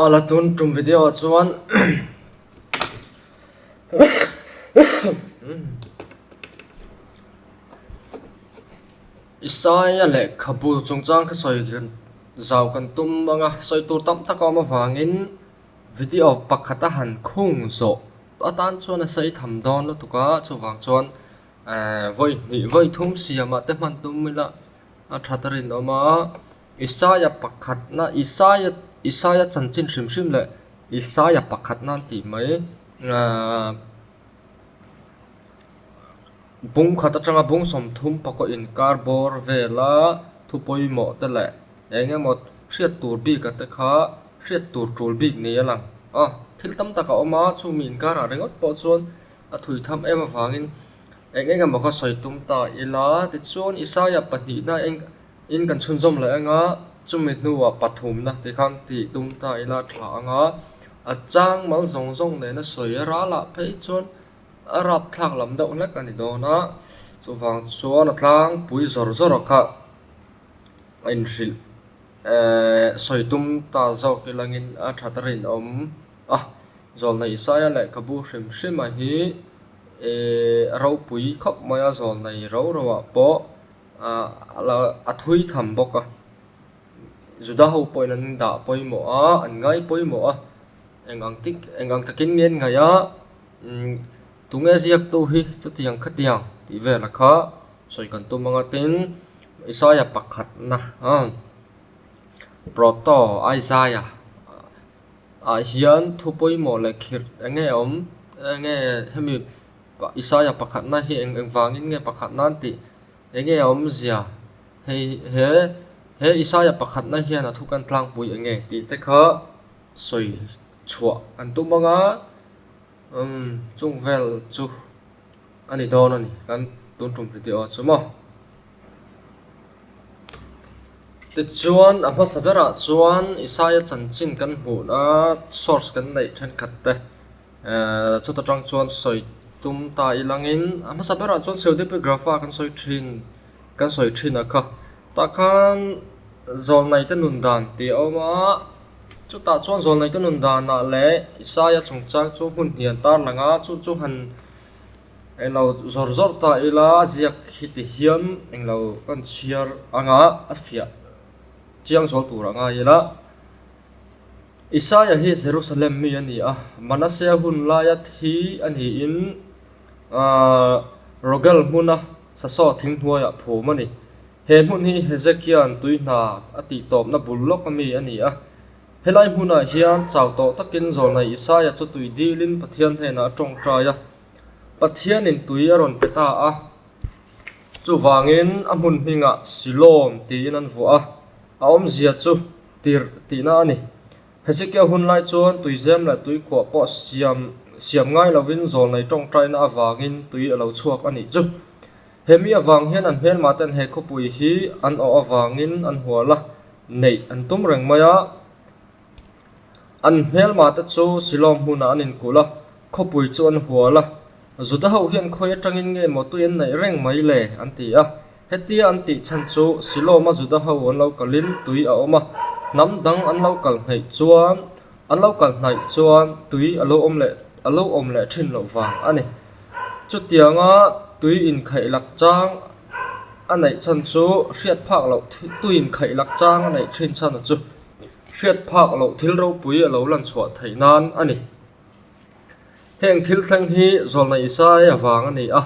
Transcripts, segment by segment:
A la tun tum video ah chuan Isaiah leh khabu chungchang kha sawi kan zau kan tum anga sawi tur tam tak a awm avangin video pakhat a han khung zawh atan chuan a sawi tham dawn lutuk a chuvang chuan vawi hnih vawi thum siam ah te hman tum ila A that a rinawm a, Isaiah pakhatna, Isaiah, Isaiah chanchin hrim hrim leh Isaiah pakhatna an tih mai. Aaa, bung khat atanga bung sawmthum pakaw inkar bawr vela thu pawimawhte leh eng emaw hriat tur bika te kha hriat tur tul bik ni a lang. Aw, thil tam tak a awm a, chumi inkarah ringawt pawh chuan a thui tham em avangin Eng eng emaw ka sawi tum ta ila, tichuan Isaiah pahnihna eng in kan chhunzawm leh anga chumi hnuah pathumna tih khan tih tum ta ila tha anga a chang mal zawng zawng nena sawi a ral ah phei chuan a rapthlak lam deuh hlek a ni dawn a, chuvang chuan a tlangpui zawr zawr kha a inhrilh. Sawi tum ta zawk i langin a that a rinawm a, Zawlnei Isaia leh ka bu hrim hrima hi i ropui khawp mai a, zawlnei ro roah pawh a thui tham bawk a, Juda ho pawhin an dah pawimawh a, an ngai pawimawh a, eng ang takin ngen ngaih a. Tunge ziaktu hi chutiang khatiang tih vela kha sawi kan tum anga tin Isaiah pakhatna a proto Isaiah ah hian thu pawimawh leh khirh enge a awm enge hemi Isaiah pakhatna hi eng eng vangin nge pakhat nan tih enge a awm zia hei he he Isaiah pakhatna hian a thu kan tlangpui enge tih te kha sawi chhuah kan tum anga. Umm, chung vel chu a ni dawn a ni, kan tun tum hre teh aw chu maw. Tichuan a hmasa berah chuan Isaiah chanchin kan hmuh a, source kan neih thenkhat te ehh chut atang chuan sawi tum ta i langin a hmasa berah chuan Pseudepigrapha kan sawi thin. Kan sawi thin a kha. Tah khan Zawlnaite nundan tih a awm a, chutah chuan Zawlnaite nundanah leh Isaiah chungchang chu hmun hnian tar lang a, chu chu han englo zawr zawr ta ila a ziak hi tihian englo ka han chhiar anga a fiah chiang zual tur a ngai ila. Isaiah hi Jerusalem mi a ni a, Manasseh-a hun laia thi a niin, Aaa, Rogel hmuna Sasawh thing hnuaiah phum a ni. He hmun hi Hezekia'n tui hna a tih tawpna bul lawk a mi a ni a. Helai hmunah hian chau tawh takin Zawlnai Isaiah chu tui dilin Pathian hnenah a ṭawngṭai a. Pathianin tui a rawn pe ta a. Chuvangin a hmun hmingah Siloam tiin an vuah a, a awmzia chu Tirh tihna a ni. Hezekiah hun lai chuan tuizem leh tuikhuah pawh siam siam ngai lovin zawl nei tawngtaina avangin tui a lo chhuak a nih chu. Hemi avang hian an hmelmah ten he khawpui hi an awh avangin an hual a, neih an tum reng mai a. An hmelmah te chu Siloam hmunah an inkulh a, khawpui chu an hual a. Judaho hian khawi atangin nge emaw tui an neih reng mai le? an ti a. Hetia an tih chhan chu Silawma Juda ho an lo kalhin tui a awm a, hnam dang an lo kal hnaih chuan, an lo kal hnaih chuan tui a lo awm leh a lo awm leh thin loh vang a ni. Chutianga tui inkhaih lakchang a neih chhan chu hriat phak loh tui inkhaih lakchang a neih thin chhan chu hriat phak loh thil ropui a lo lan chhuah theih nan a ni. Heng thil thleng hi Zawlnaisaia vang a ni a,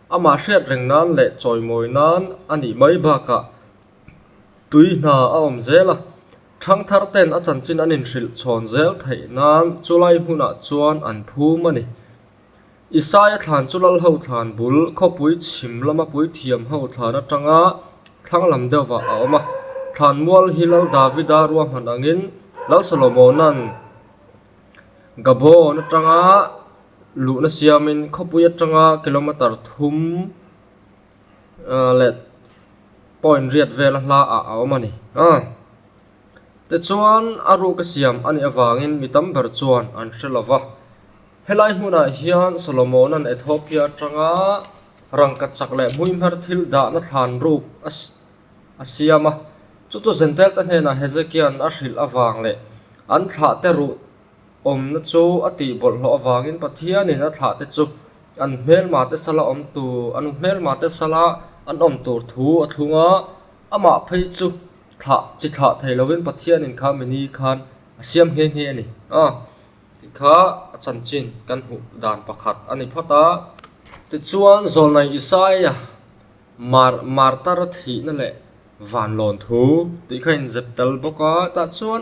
Amah hriat reng nan leh chawimawi nan a nih mai bakah tui hna a awm zel a, Thangthar ten a chanchin an inhrilh chhawn zel theih nan chu lai hmunah chuan an phum a ni. Isaya thlan chu lal ho thlan bul khawpui chhim lama puithiam ho thlan atanga thlanglam deuhah a awm a. Thlan mual hi Lal Davida ruahman angin Lal Solomona'n Gabon atanga Luhna siamin khawpui atanga kilometer thum leh point riat vela hla ah a awm a ni. Tichuan a ruka siam a nih avangin mi tam ber chuan an hre lo va. Helai hmunah hian Solomona'n Ethiopia atanga rangkhat chak leh hmuihmher thil dahna thlan ruk a siam a. Chuchu Jentailta hnenah Hezekia'n a hrilh avang leh an thlahte ruh Awmna chu a tihbawlhhlawh avangin Pathianin a thlah te chu an hmelma te sala awm tu an hmelma te sala an awm tur thu a thlung a, amah phei chu thlah chi thlah thei lovin Pathianin kha mi ni khan a siam nghe nghe a ni a tih kha a chanchin kan hmuh dan pakhat a ni phawt a. Tichuan Zawlnai Isaiah mar martar a thihna leh vanlawn thu tih kha a inzep tel bawk a, tah chuan.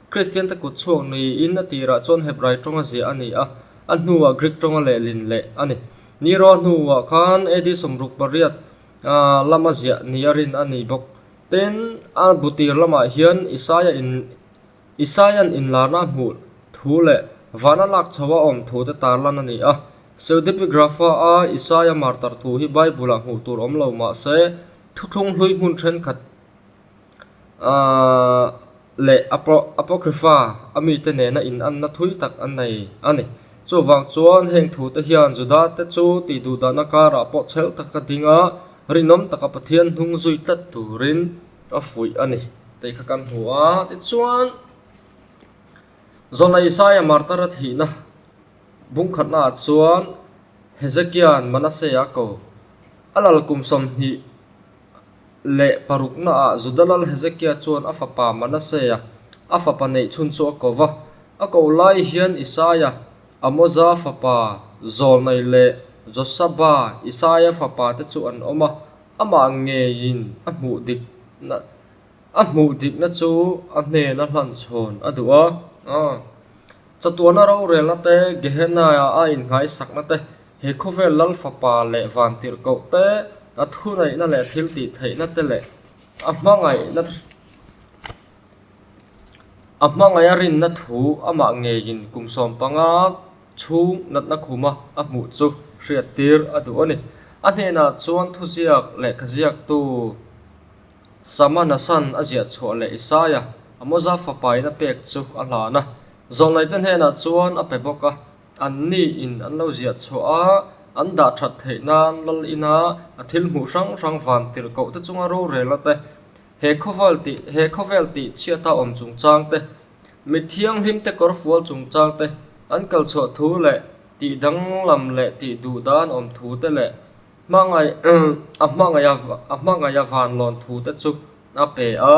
Kristiante kut chhuak niin a tirah chuan Hebrai tawnga ziah a ni a, a hnuah Greek tawnga leh lin leh a ni. Nero hnuah khan AD sawmruk pariat lama ziah ni a rin a ni bawk. Tin, a bu tir lamah hian Isaiah in Isaiah-n inlarna a hmuh thu leh vana lak chho a awm thute tar lan a ni a. Pseudepigrapha-a Isaiah martar thu hi Bible-ah hmuh tur awm lo mah se, thuthlung hlui hmun thenkhat leh Apocrypha a mite nena inanna thui tak an nei a ni. Chuvang chuan heng thute hian Judate chu tih duhdahna karah pawh chhel tak a ding a, rinawm taka Pathian hnung zui tlat turin a fuih a ni tih kha kan hmu a. Tichuan, zawhna Isaiah martar a thihna bung khatnaah chuan Hezekia'n Manasseh-a ko a lal kum sawmhnih, leh parukna ah Juda lal Hezekia chuan a fapa Manasea a fapa neih chhun chu a ko va. A ko lai hian Isaia, Amoza fapa, Zawlnai leh Josaba, Isaia fapa te chu an awm a, amah ngeiin a hmuh dik a hmuh dikna chu a hnena hlan chhawn a duh a. Chatuana rorelna te, Gehenna-a a inhnaisakna te, He khawvel lal fapa leh vantirhkoh te, a thuneihna leh thil tihtheihna te leh a hmangaihna a hmangaih a rinna thu amah ngeiin kum sawm panga chhung natna khum a a hmuh chu hriat tir a duh a ni. A hnenah chuan thuziak lehkha ziaktu Sama Nasan a ziah chhuah leh Isaya a mawza fapa in a pek chu a hlan a. Zawhlaite hnenah chuan a pe bawk a. An nih in an lo ziah chhuah a, an dah that theih nan lal in a, a thil hmuh hrang hrang van tirh koh te chunga rorel a te, he khawvel ti he khawvel ti chhiat a awm chung chang te, mit thianghlim te kawr fual chung chang te, an kal chhuah thu leh tih danglam leh tih duh dan awm thu te leh hmangaih a hmangaih a hmangaih a van lawn thu te chu a pe a.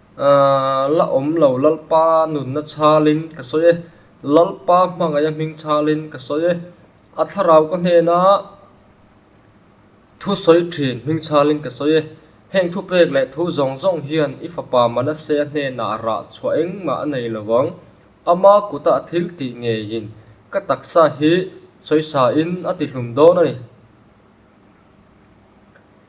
Aaa, la awm lo Lalpa nunna chhalin ka sawi e, Lalpa hmangaia hming chhalin ka sawi e, a thlarau ka hnena thu sawi thin hming chhalin ka sawi e, heng thu pek leh thu zawng zawng hian i fapa Manasseh-a hnenah a rah chhuah engmah a nei lo vang, ama kuta a thil tih ngeiin ka taksa hi sawi sain a tihlum dawn a ni.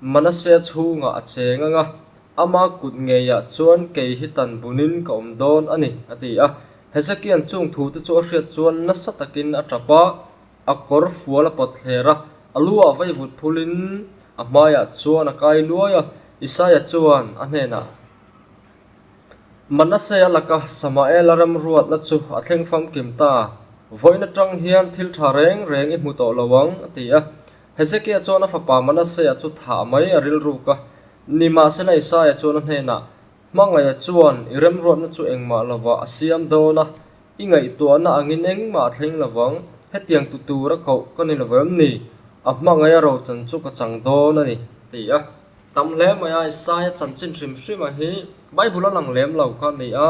Manasseh chhungah a che ngang a, ama kut ngeiah chuan kei hi tan bunin ka awm dawn a ni, a ti a. Hezekia'n chung thute chu a hriat chuan nasa takin a ṭap a, a kawr fual a pawt thler a, a lu ah vaivut phulhin a hmaiah chuan a kai luai a. Isaiah chuan a hnenah, Manasseh a laka Samaela ram ruatna chu a thleng famkim ta, vawiin aṭang hian thil ṭha reng reng i hmu tawh lo ang, a ti a. Hezekia chuan a fapa Manasseh-a chu thah mai a rilruk a, nimahsela Isaiah chuan a hnenah, Hmangaia chuan i remruatna chu engmah lovah a siam dawn a, i ngaihtuahna angin engmah a thleng lovang, hetiang tu tura koh ka ni lovem ni? A hmangaia rochan chu ka chang dawn a ni, a ti a. Tam hle mai a, Isaiah chanchin hrim hrima hi Bible-a lang lem lo kha a ni a.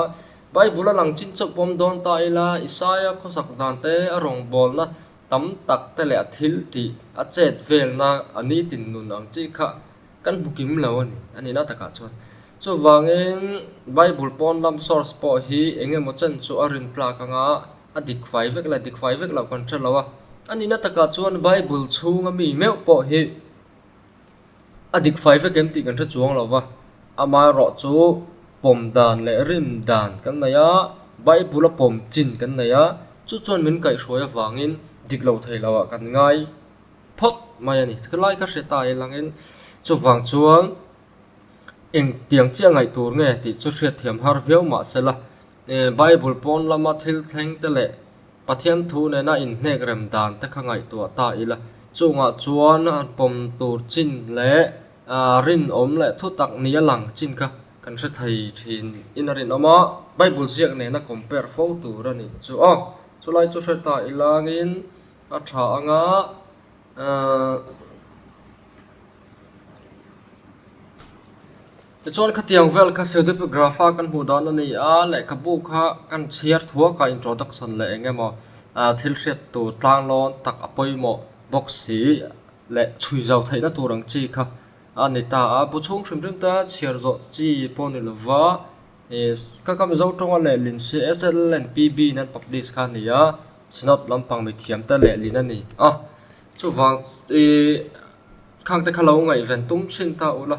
Bible-a lang chin chauh pawm dawn ta ila, Isaiah khawsak dante a rawngbawlna tam tak te leh a thil tih a chet velna a ni tin nun ang chi kha kan hmu kim lo a ni. A nihna takah chuan. Chuvangin, Bible pawn lam source pawh hi eng emaw chen chu a rin tlak anga a dik fai vek leh a dik fai vek loh kan hre lo a. A nihna takah chuan Bible chhunga mi meuh pawh hi A dik fai vek em tih kan hre chuang lo va, amah erawh chu pawm dan leh rim dan kan nei a, Bible a pawm chin kan nei a, chu chuan min kaihhruai avangin dik lo thei lo ah kan ngai phawt mai a ni. Ka lai ka hriat aia lang in chuvang chuan engtiang chiah ngaih tur nge tih chu hriat thiam har viau mah se la, Bible pawn lama thil thleng te leh Pathian thu nena inhnek rem dan te kha ngaihtuah ta ila. Chungah chuan pawm tur chin leh rinawm leh thutak nia lang chin kha kan hre thei thin in a rinawm a, Bible ziak nena compare fo tur a nih chu aw. Chulai chu hre ta ila angin a tha anga uh. Tichuan khatiang vel kha pseudepigraph a kan hmuh dan a ni a, lehkhabu kha kan chhiar thuak a introduction leh eng emaw thil hriat tur tlanglawn tak a pawimawh bawk si leh chhui zau theihna tur ang chi kha a ni ta a. Bu chhung hrim hrim te chhiar zawh chi pawh a ni lo va, ka ka Mizo tawnga leh lin si SLNPB in an publish kha a ni a, Synod lampang mithiam te leh lin a ni a. Chuvang khangte kha lo ngaihven tum thin ta ula.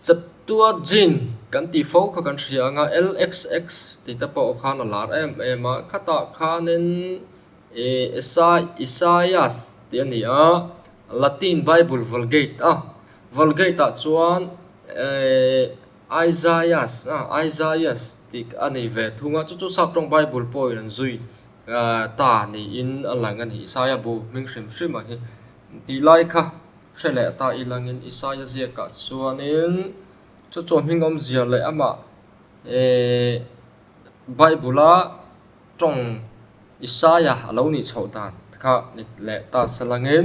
Chaptua Jin kan tih fo kha kan hria anga LXX tih te pawh khan a lar em em a, khatah khanin Isaias tih a ni a, Latin Bible Vulgate a, Vulgate ah chuan Isaias Isaias tih a nei ve thung a, chu chu Sap tawng Bible pawhin an zui ta niin a lang a ni, Isaiah bu hming hrim hrim a hi tih lai kha. hre leh ta i langin Isaiah ziaka chuanin chu chu hming awm zia leh amah Bible-a tawng Isaiah a lo nih chhoh dan kha ni leh ta se langin.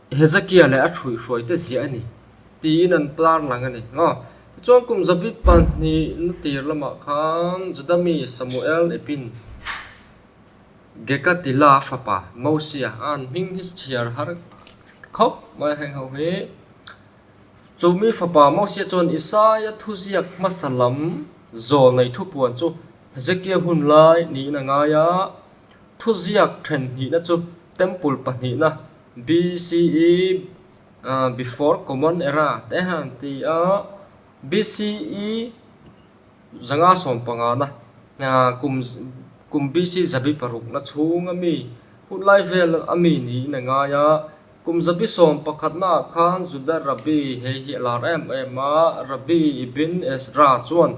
Hezekia leh a ṭhuihhruaite ziah a ni, tiin an plar lang a ni. Maw? Tichuan, kum zabi pahnih na tir lamah khan Juda mi Samuel ipin Geka tila fapa Mosia a an hming hi chhiar har khawp mai a hreih ho hi. Chu mi fapa Mosia chuan Isaiah thuziak hmasa lam zawl nei thupuan chu Hezekia hun lai niin a ngai a, thuziak ṭhenhnihna chu temple pahnihna BCE, Before Common Era, te hi an ti a, BCE zanga sawm pangana, kum kum BC zabi parukna chhung a mi hutlai vel a mi niin a ngai a, kum zabi sawm pakhatna ah khan Juda Rabbi hei hi a lar em em a, Rabbi ibn Ezra chuan,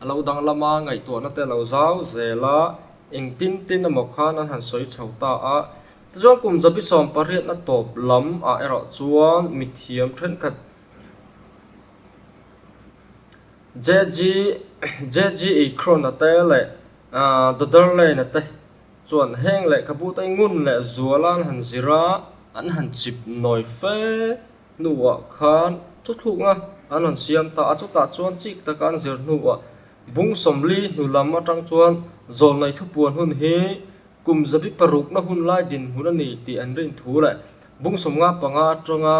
A lo danglam a, ngaihtuahna te a lo zau zel a, engtin tin emaw khan an han sawi chho ta a. Tichuan kum zabi sawm pariatna tawp lam ah erawh chuan mithiam thenkhat JGE Khrona te leh Dodder Lane te chuan heng leh khabu te ngun leh zual a an han zir a, an han chip nawi fe. hnuah khan thu thlukna an rawn siam ta a, chutah chuan chik taka an zir hnuah Bung Sawmli hnu lam atang chuan Zawlnei thupuan hun hi kum zabi parukna hun lai dinhmun a ni tih an rin thu leh Bung Sawmnga panga atanga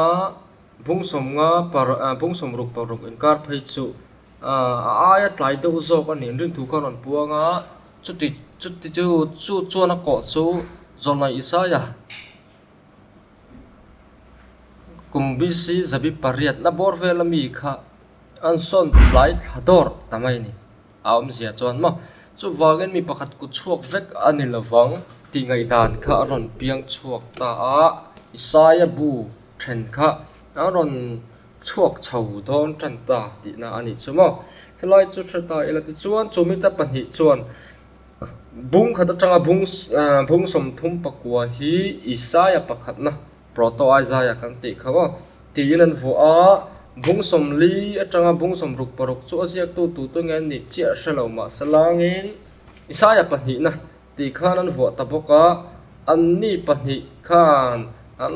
Bung Sawmnga para Bung Sawmruk paruk inkar phei chu a aia tlai deuh zawk a nih an rin thu kha an rawn puang a, chuti chu chu chuan a kawh chu Zawlnei Isaiah. kum bisi zabi pariat na bawr vel ami kha an sawn tlai thla dawr ta mai ni a awmzia chuan maw chuvangin mi pakhat kut chhuak vek a ni lovang tih ngaihdan kha a rawn piang chhuak ta a isaiah bu then kha a rawn chhuak chho dawn tan ta tihna a ni chu maw helai chu hre ta ila tichuan chu mite pahnih chuan-- Bung khat atanga bung ah bung sawmthum pakua hi Isaiah pakhatna, Proto-Isaiah kan tih kho a, tiin an vuah a. Bung sawmli atanga bung sawm ruk paruk chu a ziaktu tutu nge an nih chiah hre lo mahse lângin Isaiah pahnihna tih khan an vuah ta bawk a. Anni pahnih khan an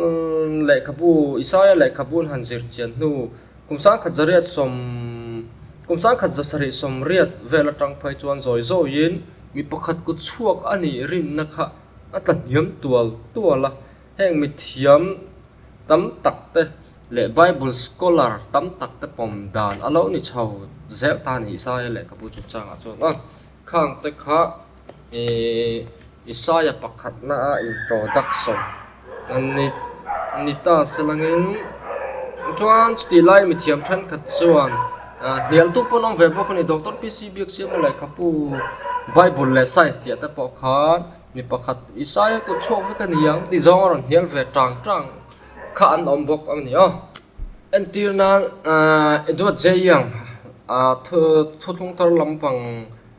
lehkhabu Isaiah lehkhabu an han zirchian hnu-- Kum sangkhat zariat sawm Kum sangkhat za sarih sawm riat vel atang phei chuan zawi zawiin mi pakhat kut chhuak a nih rinna kha a tla hniam tual tual a. Heng mithiam tam tak te leh Bible scholar tam tak te pawm dan a lo ni chho zel ta a ni sa e lehkhabu chung changah chuan a. Khang te kha. I Isaiah pakhatnaah introduction ni ta se langin chuan chutih lai mithiam thenkhat chuan hnialtu pawh an awm ve bawk a ni. Doctor PC Biaksiahna lehkhabu Bible leh Science tih te pawh khan mi pakhat Isaiah kut chhuak vek a ni ang tih zawng a rawn hnial ve tang tang kha an awm bawk a ni aw. Entir nan Edward J. Young thu thu thlungthar lampang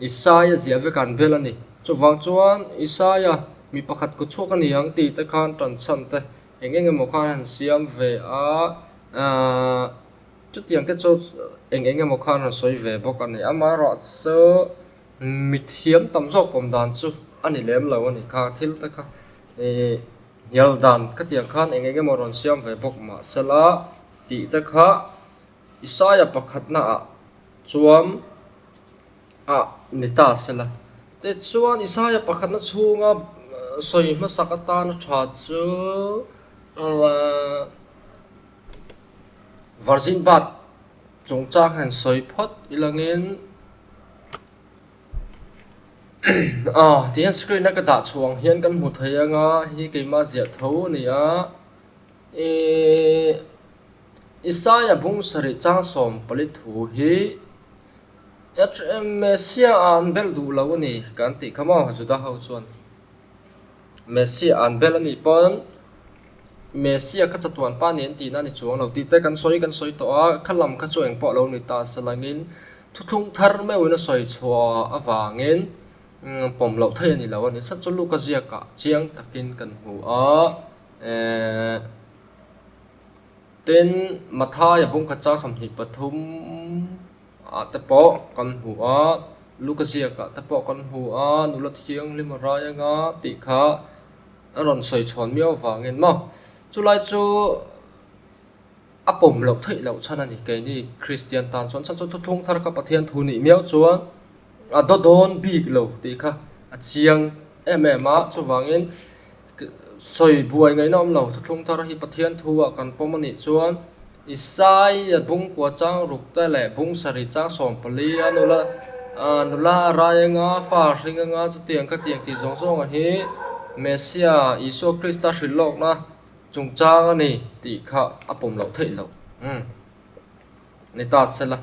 Isaiah ziah vek an bel a ni. Chuvang chuan Isaiah mi pakhat kut chhuak a ni ang tih te khan tan chhan te eng eng emaw khan han siam ve a, chutiang te chu eng eng emaw khan han sawi ve bawk a ni. Amaherawh chu mithiam tam zawk awm dan chu a ni lem lo a ni kha, thil te kha hnial dan khatiang khan eng eng emaw rawn siam ve bawk mahsela tih te kha Isaiah pakhatnaah. Chuan a ni ta se la. Tichuan, Isaiah pakhatna chhunga sawi hmasak atan a tha chu Virgin Birth chungchang hian sawi phawt ilangin tihian screen a ka dah chhuah ang hian kan hmu thei ang a, hi keimah ziah tho a ni a. Isaiah bung sarih chang sawm pali thu hi Hrm Messia a an belh duh lo a ni kan tih kha maw Juda ho chuan? Messia a an belh a nih pawn Messia kha chatuan pa nen tihna a ni chuang lo tih te kan sawi kan sawi tawh a, kha lam kha chu engpawh a lo ni ta sa lang in thuthlung thar meuh in a sawi chhuah avang in pawm loh thei a ni lo a ni sa chu Luka ziak ah chiang tak in kan hmu a. Tin, Mathaia pawngkhat chang sawmhnih pathum ah te pawh kan hmu a, Luka ziak ah te pawh kan hmu a, Nula Thianghlim a rai anga tih kha an rawn sawi chhawn miau avangin maw? Chu lai chu a pawm loh theih loh chhan a ni. Keini Kristian tan chuan chhan chu thuthlung thar kha Pathian thu nih miau chuan a daw dawn bik lo tih kha a chiang em em a, chuvangin, sawi buai ngaihna awm lo thlung thar hi Pathian thu ah kan pawm a nih chuan Isaiah bung kua chang ruk te leh bung sarih chang sawm pali a nula nula a rai a nga fa a hring a nga chutiang khatiang tih zawng zawng ah hi Messia Isua Krista hrilh lawkna chungchang a ni tih kha a pawm loh theih lo. Ni ta se la.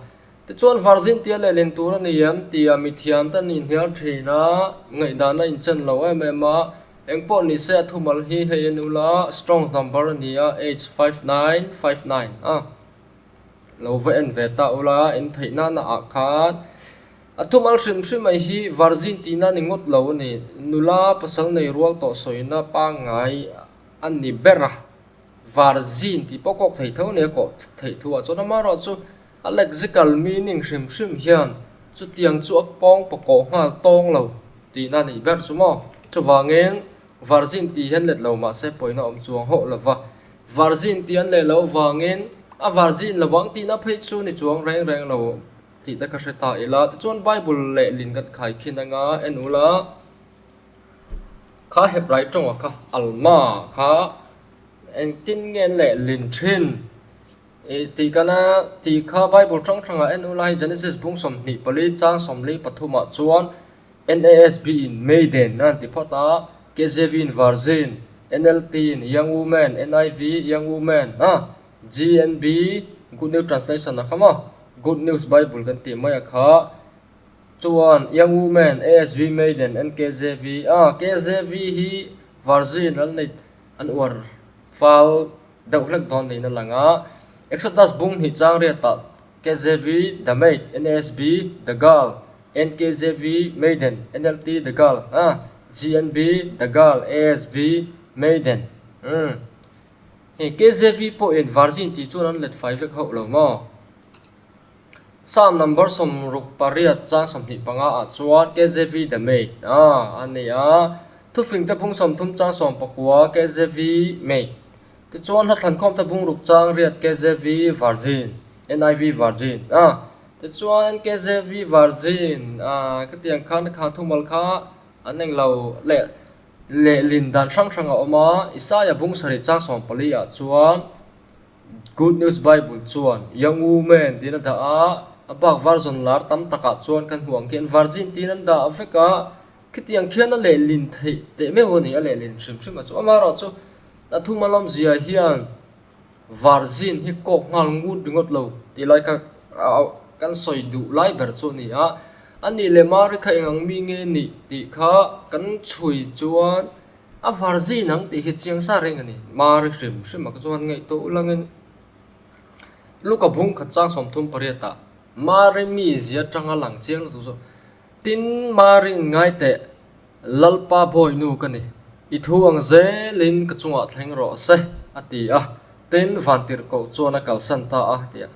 Tichuan Varzin tia leh len tur a ni em? tia mithiam ten in hniar thin a, ngaihdan a inchan lo em em a. Eng pawh ni se a thumal hi hei a ni ula, Strong's number a ni a, H five nine five nine a. Lo va en ve ta ula, in theih nana ah khan a thumal hrim hrim mai hi Varzin ti nan i ngawt lo a ni. Nula pasal nei rual tawh sawina pangngai a ni ber a. Var zin tih pawh kawk thei tho nia kawh theih thu ah chuan amaherawh chu a lexical meaning hrim hrim hian chutiang chu a pawngpaw kawh nghal tawng lo tihna a nih ber chu maw. Chuvangin, var zin tih hi an let lo mahse pawina awm chuang hauh lo va. Var zin tih an leh lo vangin a var zin lo ang tihna phei chu ni chuang reng reng lo tih te ka hre ta ila. Tichuan Bible leh lin kan khai khin anga en ula Kha Hebrai tawngah kha Alma kha engtin nge an leh lin thin? Tih kan a, tih kha Bible hrang hrang ah en ula hi Genesis bung sawmhnih pali chang sawmli pathum ah chuan NASB in maiden a rawn ti phawt a, KJV in virgin, NLT in young woman, NIV young woman, a, GNB, Good News Translation, a kha maw? Good News Bible kan tih mai a kha. Chuan Young Women, ASV Maiden, NKJV, a, KJV hi Virgin an nei, an uar fal deuh hlek dawn niin a lang a. Exodus bung hnih chang riatah KJV, The Maid, NASB, The Girl, NKJV, Maiden, NLT, The Girl, a, GNB, The Girl, ASV, Maiden, umm. Hei KJV pawhin Virgin tih chuan an let fai vek hauh lo maw? Psalm number sawm ruk pariat chang sawmhnih panga ah chuan KJV the mate a a ni a, Thufingte bung sawm thum chang sawm pakua KJV mate tichuan hla thankhawmte bung ruk chang riat KJV virgin NIV virgin a tichuan KJV virgin aa ka tiang khan a khang thumal kha an englo leh lehlin dan hrang hrang a awm a Isaiah bung sarih chang sawm pali ah chuan Good News Bible chuan, Young women tiin a dah a, a bak var zawn lar tam takah chuan kan hmuh ang khian var zin tiin an dah vek a, khitiang khian a lehlin theih teh meuh a ni, a lehlin hrim hrim a chu. Amaherawh chu a thum a lawm ziah hian var zin hi kawk nghal ngut ringawt lo tih lai kha kan sawi duh lai ber chu a ni a, a nih leh Mari kha eng ang mi nge nih tih kha kan chhui chuan A var zin ang tih hi chiang sa reng a ni. Mari hrim hrim a ka chuan ngeih tawh ulangin luka bung khat chang sawmthum pariatah Mari mizia tanga lang chiang lutuk zawk. Tin, Mari in ngai teh, Lalpa bawi nu ka ni. I thu ang zelin ka chungah thleng rawh se, a ti a. Tin, Vantirhkoh chuan a kalsan ta a, a ti a.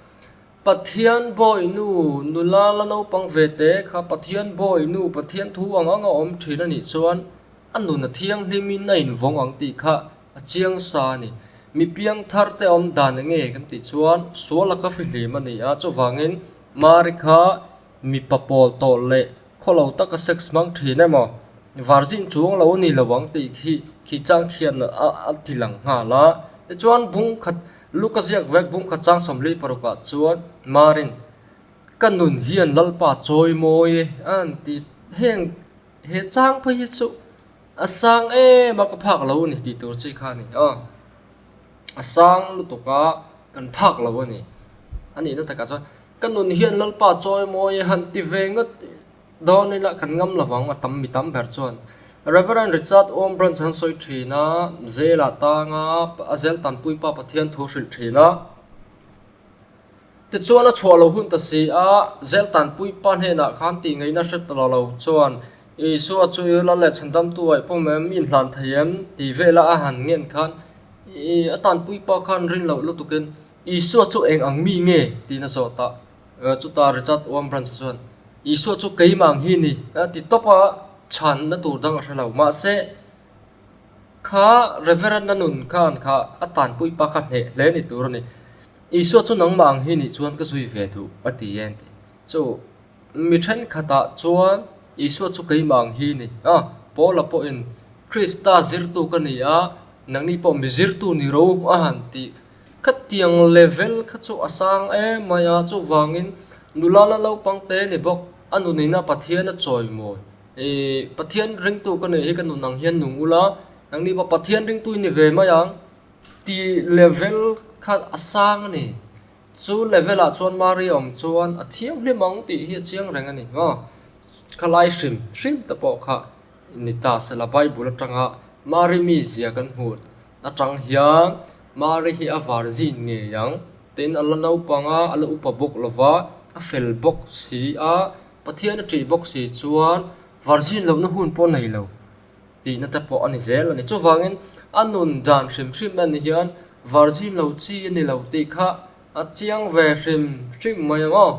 Pathian Bawi Nu, nula la naupang ve te kha Pathian Bawi Nu, Pathian thu ang anga awm thin a nih chuan a nun a thianghlim in a invawng ang tih kha a chiang sa a ni. Mi piangthar te awm dan enge kan tih chuan sual a ka hrihlim a ni a, chuvangin Mary kha mipa pawl tawh leh khaw lo taka sex hmang thin em aw, var zin chuang lo a ni lo ang tih khi khi chang khian a ti lang nghal a. Tichuan bung khat Luka ziak vek bum kha chang sawmli parukah chuan Marin, Ka nun hian Lalpa chawi mawi e a an ti. Heng he chang phei hi chu a sang em a ka phak lo a ni tih tur chi kha a ni. A sang lutuk a kan phak lo a ni. A nihna takah chuan, Ka nun hian Lalpa chawi mawi e han ti ve ngawt Dawn ila kan ngam lo vang a tam mi tam ber chuan Rev. Richard Awm Branch an sawi thin a, zela tanga a Zeltan Puipa Pathian thu hrilh thin a. Tichuan a chhuah lo hun ta si a, Zeltan Puipa hnenah khan tih ngaihna hre ta lo chuan Isua chu i la leh chhandamtu ai pawm em, i inhlan thei em tih vela a han ngen khan i a tan Puipa khan rinloh lutukin Isua chu eng ang mi nge? tiin a zawt a. Chuta Richard Oam Branch chuan, Isua chu keimah ang hi ni a ti tawp a, chhanna tur dang a hre lo. Mahse, kha Rev. Nanun khan kha a tanpui pa kha hneh hle ni tur a ni. Isua chu nangmah ang hi ni chuan ka zui ve duh a ti e an ti. Chu mi thenkhatah chuan Isua chu keimah ang hi ni a, Paula pawhin Krista zirtu ka ni a, nangni pawh mi zirtu ni ro a han tih Khatiang level kha chu a sang em mai a, chuvangin nula la naupang te ni bawk a nu neihna Pathian a chawimawi ih Pathian ringtu ka neih hi ka nun ang hian nung ula nang ni bawk Pathian ringtu i ni ve mai ang tih level kha a sang a ni. Chu level ah chuan Mari awm chuan a thiang hlim ang tih hi a chiang reng a ni hngau. Khalai hrim hrim te pawh kha ni ta sela Bible atanga Mari mizia kan hmuh Atang hian Mari hi a var zin ngei ang. Tin, a la naupanga a la upa bawk lova, a fel bawk si a, Pathian a ṭih bawk si chuan var zin lohna hun pawh nei lo tihna te pawh a ni zel a ni. Chuvangin, a nun dan hrim hrim a nih hian var zin lo chi a ni lo tih kha a chiang ve hrim hrim mai ang aw.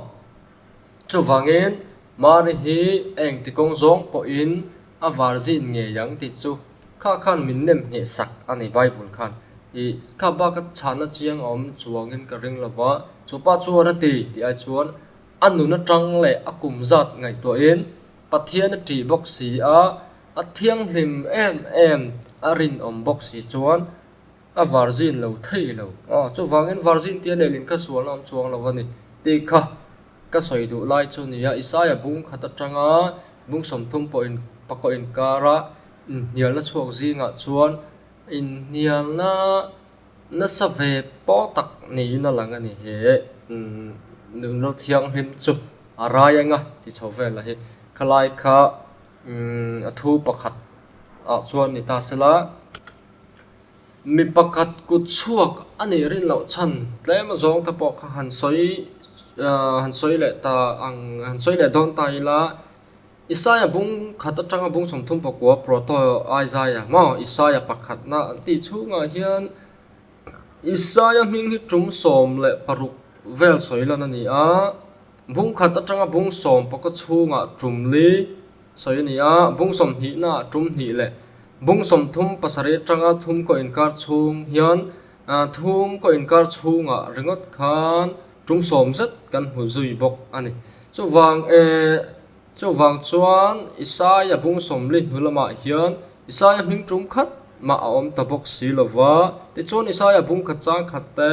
Chuvangin, Mari hi a engti kawng zawng pawhin a var zin ngei ang tih chu kha khan min nem ngheh sak a ni Bible khan. I, kha bak a chhahna chiang a awm chuangin ka ring lo va, chu pa chu a ra ti tih ai chuan a nun atang leh a kum zat ngaihtuahin Pathian a ṭih bawk si a, a thianghlim em em a rinawm bawk si chuan A var zin lo thei lo. Aw, chuvangin var zin tia lelin ka sual awm chuang lo a ni, tih kha ka sawi duh lai chu nia. Isaya bungkhat atanga bungsawmthum pawh in pakawh inkar a, inhnialna chhuak zingah chuan inhnialna nasa ve pawh tak niin a lang a ni. He Nunral Thianghlim chu a rai anga tichho vel a hi. Khalai kha. Umm, a thu pakhat ah chuan ni ta se la, mi pakhat kut chhuak a nih rin loh chhan tlem zawng te pawh kha han sawi, aah, han sawi leh ta ang, han sawi leh dawn ta ila, Isaiah bung khat atanga bung sawm thum pakua proto Isaiah maw? Isaiah pakhat na an tih chhungah hian Isaiah hming hi tum sawm leh paruk vel sawi lan a ni a. Bungkhat atanga bung sawm paka chhunga tum li sawi a ni a, bung sawm hnihna ah tum hnih leh bung sawm thum pasarih atanga thum kaw inkar chhung hian thum kaw inkar chhunga ringawt khan tum sawm zet kan hmu zui bawk a ni. Chuvang e, chuvang chuan Isaiah bung sawm li hnu lamah hian Isaiah hming tum khat mah a awm ta bawk si lo va, tichuan Isaiah bungkhat chang khat te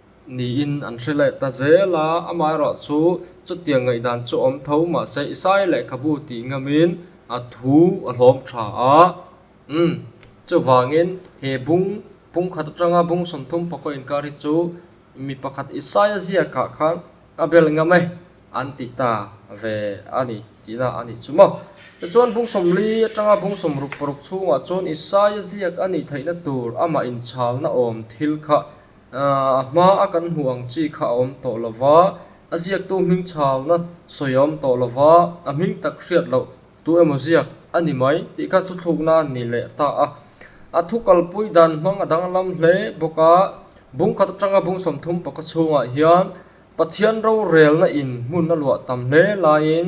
Niin an hre leh ta zel a, amaherawh chu chutiang ngaihdan chu awm tho mahse i sai lehkhabu tih ngamin a thu a hlawm tha a. Umm. Chuvangin he bung pungkhat atanga bung sawmthum pakaw inkar hi chu mi pakhat i saia ziakah khan a bel ngam e an ti ta ve a ni tihna a nih chu maw. Tichuan bung sawmli atanga bung sawm ruk paruk chhungah chuan i saia ziak a nih theihna tur amah inchhalna awm thil kha A hma a kan hmuh ang chi kha a awm tawh lo va, a ziaktu hming chhâwna sawi a awm tawh lo va, a hming tak hriat loh tu emaw ziak a ni mai tih kha thu thluk nân ni leh ta a. A thu kalpui dân hmang a danglam hle bawk a, bung khat aṭanga bung sawmthum pakhat chhûngah hian Pathian rorêlna in hmun a luah tam hle laiin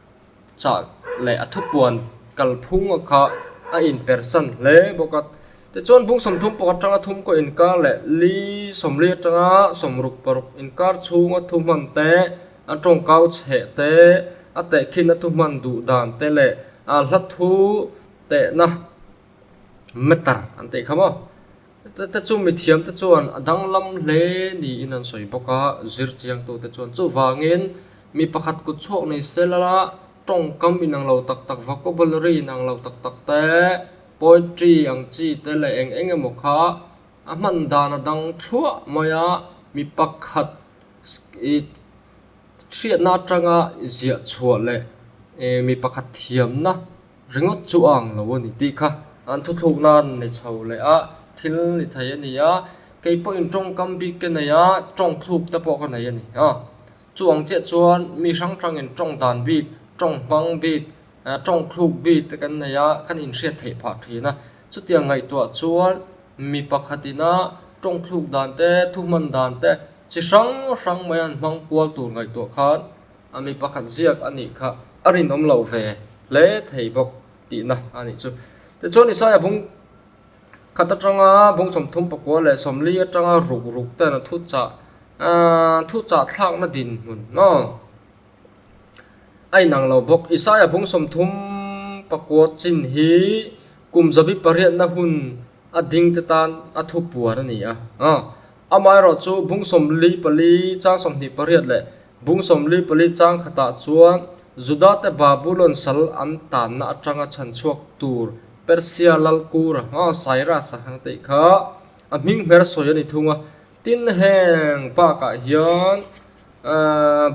chah leh a thupuan kal phung a kha a in per san hle bawk a tichuan bung sawmthum pakhat atanga thum kaw in kar leh li sawmli atanga sawm ruk paruk in kar chhunga thu hman te a tawngkau chhe te a teh khin a thu hman duh dan te leh a hla thu tehna matter an tih kha maw. Hete chu mithiamte chuan a danglam hle niin an sawi bawk a, zir chiangtute chuan chuvangin mi pakhat kut chhuak nei se lala tawngkam inang lo tak tak, vocabulary inang lo tak tak te, poetry ang chi te leh eng eng emaw kha a hman dan a dang thluah mai a, mi pakhat hriatna atanga ziah chhuah leh mi pakhat thiamna. Ringawt chu ang lo a ni tih kha an thuthluk nan ni chho leh a, thil ni thei a ni a, kei pawhin tawngkam bik ka nei a, tawng thluk te pawh ka nei a ni a. Chu ang chiah chuan mi hrang hrangin tawng dan bik, tawng hmang bik, tawng thluk bik te kan nei a, kan inhriat theih phah thin a. Chutiang ngaihtuah chuan mi pakhatina tawng thluk dan te, thu hman dan te chi hrang hrang mai an hmang kual tur ngaihtuah khan, A mi pakhat ziak a nih kha a rinawm lo ve hle thei bawk tihna a nih chu. Tichuan Isaiah bung khat atanga bung sawmthum pakua leh sawmli atanga ruk ruk ten a thuchah thuchah thlakna dinhmun maw a inang lo bawk. Isaiah bung sawmthum pakua chin hi kum zabi pariatna hun a dingte tan a thupuan a ni a. Amah erawh chu bung sawmli pali chang sawmhnih pariat leh bung sawmli pali chang khatah chuan Judate Babulon sal an tanna atanga chhan chhuak tur Persia lalkura Cyrus-a kan tih kha a hming hmer sawi a ni thung a. Tin, heng bakah hian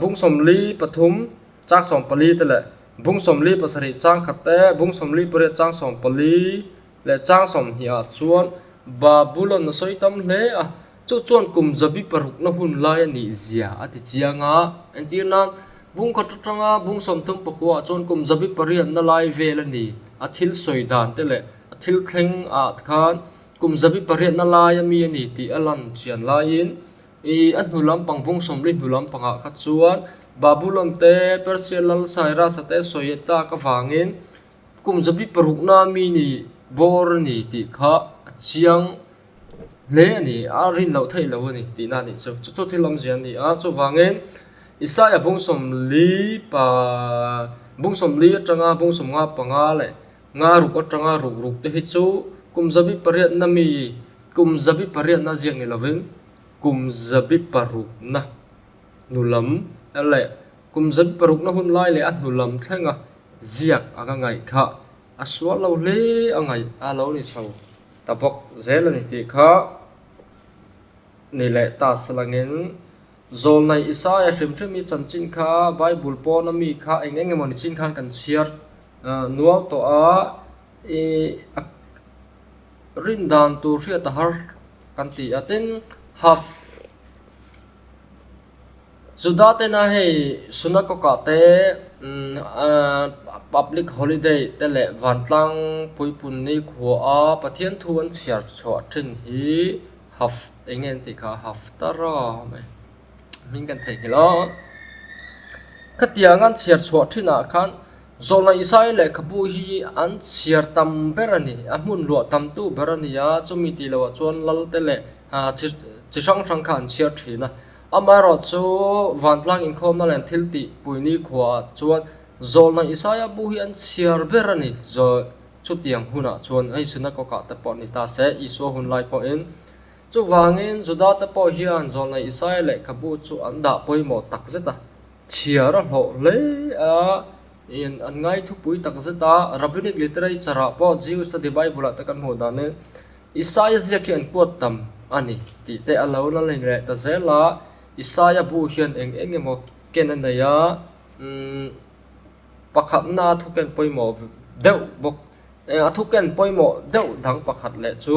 bung sawmli pathum chang sawmpali te leh bung sawmli pasarih chang khat te, bung sawmli pariat chang sawmpali, leh chang sawmhniah chuan Babulon a sawi tam hle a, chu chuan kum zabi parukna hun lai a ni zia a ti chiang a. Entir nan, Bungkhat atanga bung sawmthum pakuah chuan kum zabi pariatna lai vel a ni. A thil sawi dan te leh a thil thleng ah khan kum zabi pariatna laia mi a ni tih a lan chian laiin, i a hnu lampang bung sawmli hnu lampangah kha chuan Babulon te Persia lal Cyrus-a te sawi tak avangin kum zabi parukna mi ni bawr a ni tih kha a chiang hle a ni a rin loh theih loh a ni tih na a nih chu chu chu thil awmzia a ni a chuvangin Isaiah bungsawmli pa bungsawmli atanga bungsawmnga panga leh nga ruk atanga ruk ruk te hi chu kum zabi pariatna mi kum zabi pariatna ziak ni lovin kum zabi parukna hnulam leh kum zabi parukna hun lai leh a hnulam thlenga-- Ziak anga ngaih kha a sual lo hle a ngaih a lo ni chho ta bawk zel a ni tih kha ni leh ta salangin Zawlnai Isaiah hrim hrim hi chanchin kha Bible pawna mi kha eng eng emaw ni chin khan kan chhiar nual tawh a, i a rin dan tur hriat a har kan ti a tin half. Juda tena hei Sunagoga te, public holiday te leh vantlang puipun nikhuaa Pathian thu an chhiar chhuah ṭhin hi enge an tih kha Haftara mai hming kan thei nghilh a, khatianga an chhiar chhuah ṭhinah khan Zawhna Isai lehkhabu hi an chhiar tam ber a ni, a hmun luah tamtu ber a ni a, chumi ti loah chuan lalte leh chi hrang hrang kha an chhiar thin a. Amaherawhchu chu vantlang inkhawmna leh thil tihpui nikhuaah chuan Zawhna Isai a bu hi an chhiar ber a ni. Chutiang hunah chuan hei Synagogah te pawh ni ta se, Isua hunlai pawhin. Chuvangin Judate pawh hian Zawhna Isai lehkhabu chu an dah pawimawh takzet a, Chhiar a hlawh hle a, in an ngai thupui tak zet a, Rabbinic Literature ah pawh Jewish Study Bible ah te kan hmuh dan in Isaiah ziak hi an quote tam a ni tih te a lo la lei leh ta zel a, Isaiah bu hian eng eng emaw ken a nei a, umm pakhatna a thuken pawimawh deuh bawk, a thuken pawimawh deuh dang pakhat leh chu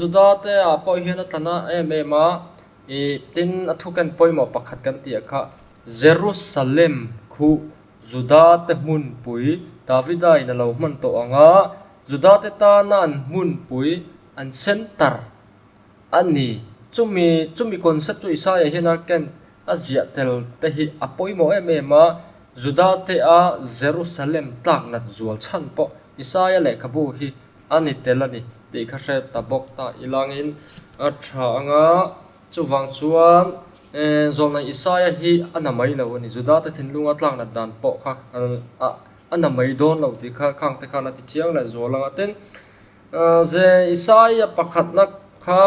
Juda te ah pawh hian a tlan a em em a, ih, tin a thuken pawimawh pakhat kan tih a kha, Jerusalem khuh Juda te hmunpui Davida in a lo hman tawh ang a, Juda te tana an hmunpui, an centre, a ni. Chumi, chumi concept chu Isaiah hian a Kent a ziah tel te hi a pawimawh em em a, Juda te a Jerusalem tlak natzual chhan pawh Isaiah lehkhabu hi A ni tel a ni tih kha hriat ta bawk ta i langin a tha anga, chuvang chuan Eeh, Zawlnai Isaiah hi a na mai lo a ni, Judate thinlunga tlaknat dan pawh kha a na mai dawn lo tih kha khangte khan a ti chiang leh zual ang a, tin zeh Isaiah pakhatna kha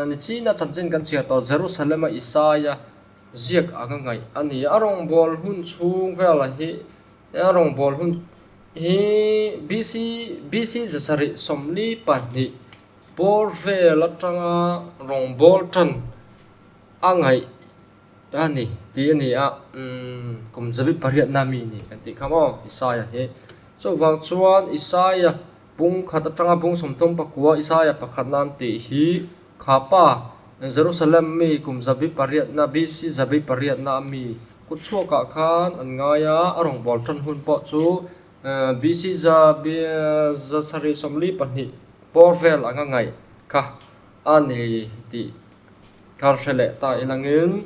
ni china chanchin kan chhiar tawh Jerusalema Isaiah ziak anga ngaih a ni a, a rawngbawlhmun chhung velah hi Heng rawngbawl hun hi BC, BC zasarih sawmli pahnih bawr vel atanga rawngbawl tan a ngaih a ni tih a ni a, umm kum zabi pariatna mi ni kan tih kha maw Isaiah hi. Chuvang chuan Isaiah pung khat atanga pung sawmthum pakua Isaiah pakhat nan tih hi Kha pa, Jerusalem mi kum zabi pariatna, BC. zabi pariatna a mi kut chhuakah khan an ngai a, a rawn bual tan hun pawh chu BC. zabi zasarih sawmli pahnih pawl vel anga ngaih kha a ni tih khan hre leh ta i langin,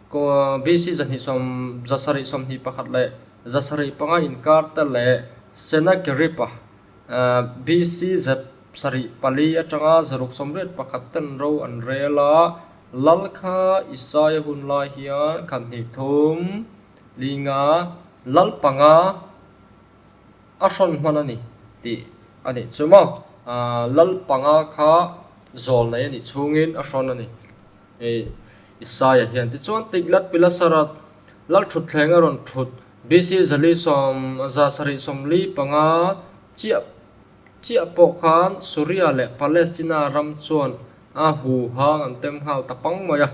BC zahnih sawm, zasarih sawmhnih pakhat leh zasarih panga inkarte leh Senakeripa, BC zep sarih pali atanga zaruk sawmriat pakhat ten ro an rel a, lal kha Isaiah hun lai hian khat hnih thum linga lal panga a hrawn hman a ni tih a nih chu maw? Lal panga kha zawlnei a nih chungin a hrawn a ni. Hei Isaiah hian ti chuan Tiglat Pilasara lal thut thleng a rawn thut, BC. zali sawm, za sarih sawmli panga chiah chiah pawh khan Suria leh Palestina ram chuan a hu hang an tem nghal ta pang mai a.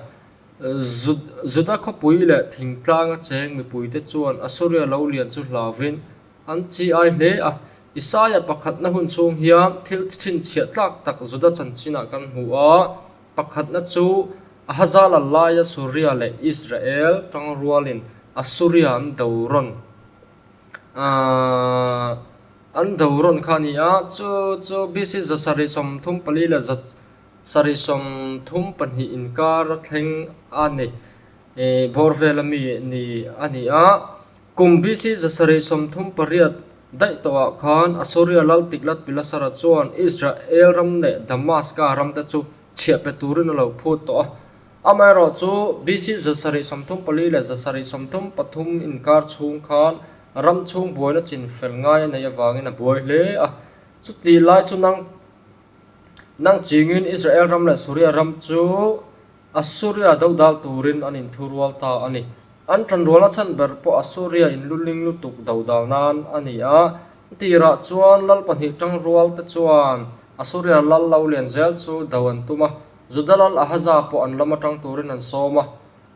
Juda khawpui leh thingtlang a cheng mipuite chuan Assuria lo lian chu hlauhin an chi ai hle a. Isaiah pakhatna hun chhung hian thil chhinchhiah tlak tak Juda chanchinah kan hmu a, Pakhatna chu Ahazala laia Suria leh Israel tang rualin Assuria an do rawn a, an do rawn kha a ni a, chu chu BC za sarih sawm thum pali leh za sarih sawm thum pahnih inkar a thleng a ni, bawrhvela mi ni a ni a, Kum BC zasarih sawmthum pariat daih tawhah khan Assyria Lal Tiglat-Pilasara chuan Israel ram leh Damaska ramte chu chhiah pe turin a lo phut tawh a. Amaherawh chu, BC zasarih sawmthum pali leh zasarih sawmthum pathum inkar chhung khan ram chhung buaina chinfel ngai a neih avangin a buai hle a. Chutihlai chu nang. Nang chingin Israel ram leh Suria ram chu Assuria dodal turin an inthurual ta a ni. An tanruala chhan ber pawh Assuria in lutling lutuk dodal nan a ni a. Tirah chuan lal pahnih tang rual te chuan Assuria lal lo lian zel chu do an tum a, Juda lal Ahaza pawh an lam atang turin an sawm a.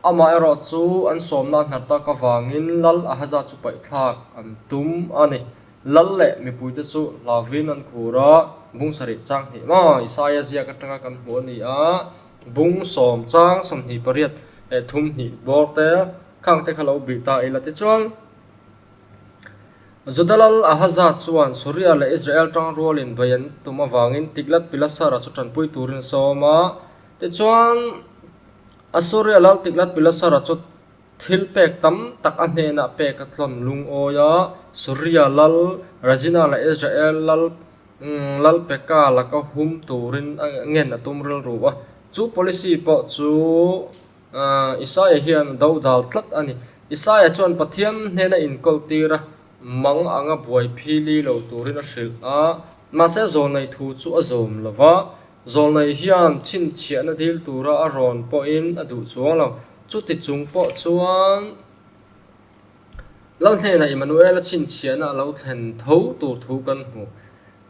Amah erawh chu an sawmna a hnartak avangin lal Ahaza chu paihthlak an tum a ni. Lal leh mipuite chu hlauviin an khur a, bung sarih chang hnih maw? Isaiah ziak atanga kan hmu a ni a, bung sawm chang sawmhnih pariat leh thum hnih bawrte khangte kha lo bih ta ila te chuan Juda lal Ahaza chuan Suria leh Israel tang rualin vawi an tum avangin Tiglat-Pilasara chu tanpui turin a sawm a, tichuan Assuria lal Tiglat-Pilasara chu Thil pek tam tak a hnenah pek a tlawn lungawi a, Suria lal, Razina leh Israel lal lal peka lak a hum turin a ngen a tum rilru a. Chu policy pawh chu Isaiah hian a do dal tlat a ni. Isaiah chuan Pathian hnena inkawltir a mang anga buaiphililo turin a hrilh a, mahse zawhneih thu chu a zawm lo va, Zawlnai hian chhinchhiahna dil tura a rawn pawhin a duh chuang lo. Chuti chung pawh chuan Lalhnena Emmanuel-a chhinchhiahna a lo thlen tho tur thu kan hmu.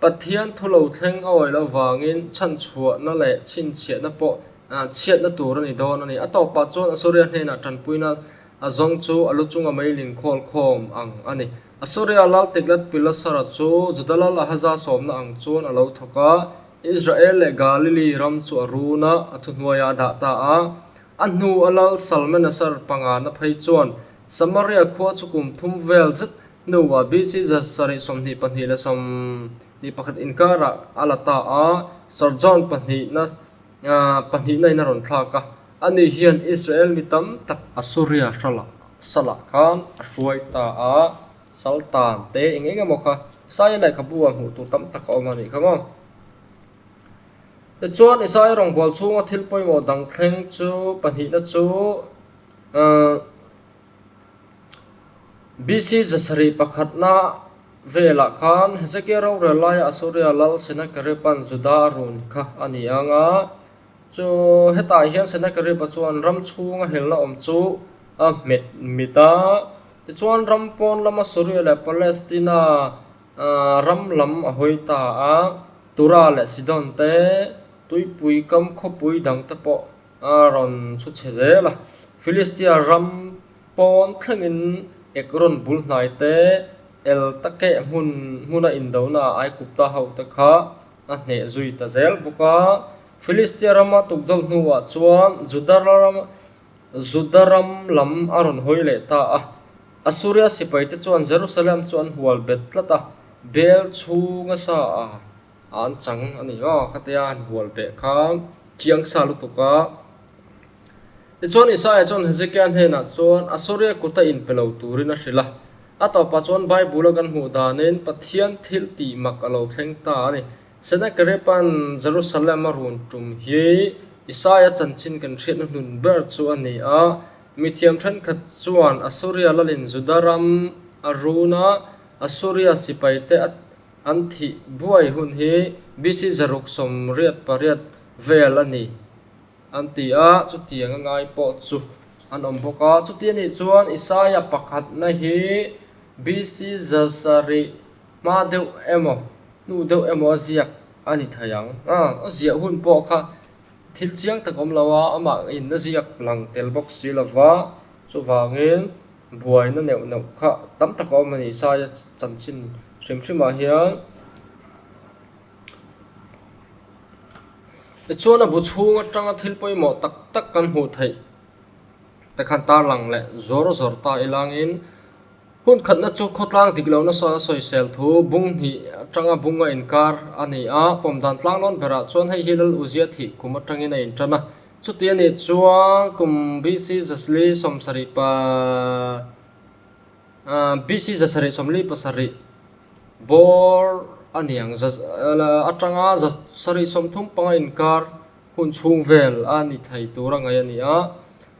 Pathian thu lo thleng a awi loh vangin chhanchhuahna leh chhinchhiahna pawh chhiatna tur a ni dawn a ni. A tawp pah chuan Asuriah hnenah tanpuina a zawng chu a lu chunga mei ling khawl khawm ang a ni. Asuriah Lal Tiglat-Pilasara chu Juda Lal Ahaza sawmna ang chuan a lo thawk a, Israel leh Galili ram chu a run a, a thu hnuaia a dah ta a. A hnu a lal Salmaneser pangana phei chuan Samaria khua chu kum thum vel zet hnuah BC. Jan sarih sawmhnih pahnih leh sawmhnih pakhat inkarah a la ta a, Sargon pahnihna pahnihna in a rawn thlak a. Ani hian Israel mi tam tak. Assuria hralah salah khan a hruai ta a, Saltan te eng eng emaw kha Isaiah-leh kha bu a hmuh tur tam tak a awm a nih kha maw? Tichuan Isaiah rawngbual chhunga thil pawimawh dang thleng chu pahnihna chu uh BC zasarih pakhatna velah khan Hezekiah rorel laia Assyria lal Sennacherib-a'n Judah a run kha a ni ang a. Chu hetah hian Sennakerib-a chuan ram chhunga helna awm chu a hmet mit a. Tichuan ram pawn lama Soria leh Palestina ram lam a hawi ta a, Tura leh Sidon te, tuipui kam khawpui dang te pawh a rawn chhu chhe zel a. Filistia ram pawn thlengin Ekron bul hnai te, el takeh hmun hmuna indonaah Aigupta hote kha a hneh zui ta zel bawk a. Filistia rama tukdawlh hnuah chuan Juda ram, Juda ram lam a rawn hawi leh ta a. Assuria sipaite chuan Jerusalem chu an hual bet tlat a, Bel chhunga sa a an chang a ni maw? Khatea an hual beh kha chiang sa lutuk a. Tichuan, Isaiah chuan Hezekiah hnenah chuan Assyria kuta inpe lo turin a hrilh a. A tawpah chuan Bible-a kan hmuh dahnin Pathian thil tih mak a lo thleng ta a ni. Sennacherib-a'n Jerusalem-a run tum hi Isaiah chanchin kan hriatna hnun ber chu a ni a. Mithiam thenkhat chuan Assyria lalin Judah ram a run a, Assyria sipaite a an thih buai hun hi BC zaruk sawm riat pariat vel a ni. An ti a, chutiang a ngai pawh chu an awm bawk a. Chuti a nih chuan Isaiah pakhatna hi BC zarhsa rih hma deuh emaw, hnu deuh emaw a ziak a ni thei ang. A a ziah hun pawh kha thil chiang tak awm lo a, amah in a ziak lang tel bawk si lo va, chuvangin buaina neuh neuh kha tam tak a awm a ni. Isaiah chanchin hrim hrimah hian. Tichuan a bu chhung atanga thil pawimawh tak tak kan hmuh theih te khan tarlang leh zawr zawr ta i langin hun khatna chu khawtlang dik loh nasa a sawisel thu bung hnih atanga bung a inkar a ni a pawm dan tlang lawn berah chuan hei hi lal uzia thih kum atangin a inṭan a chuti a nih chuan kum bisi zasli sawmsarih pa-- BC zasarih sawmli pasarih bawr a niang atanga zasarih sawm thum panga inkar hun chhung vel a ni thei tur a ngaih a ni a.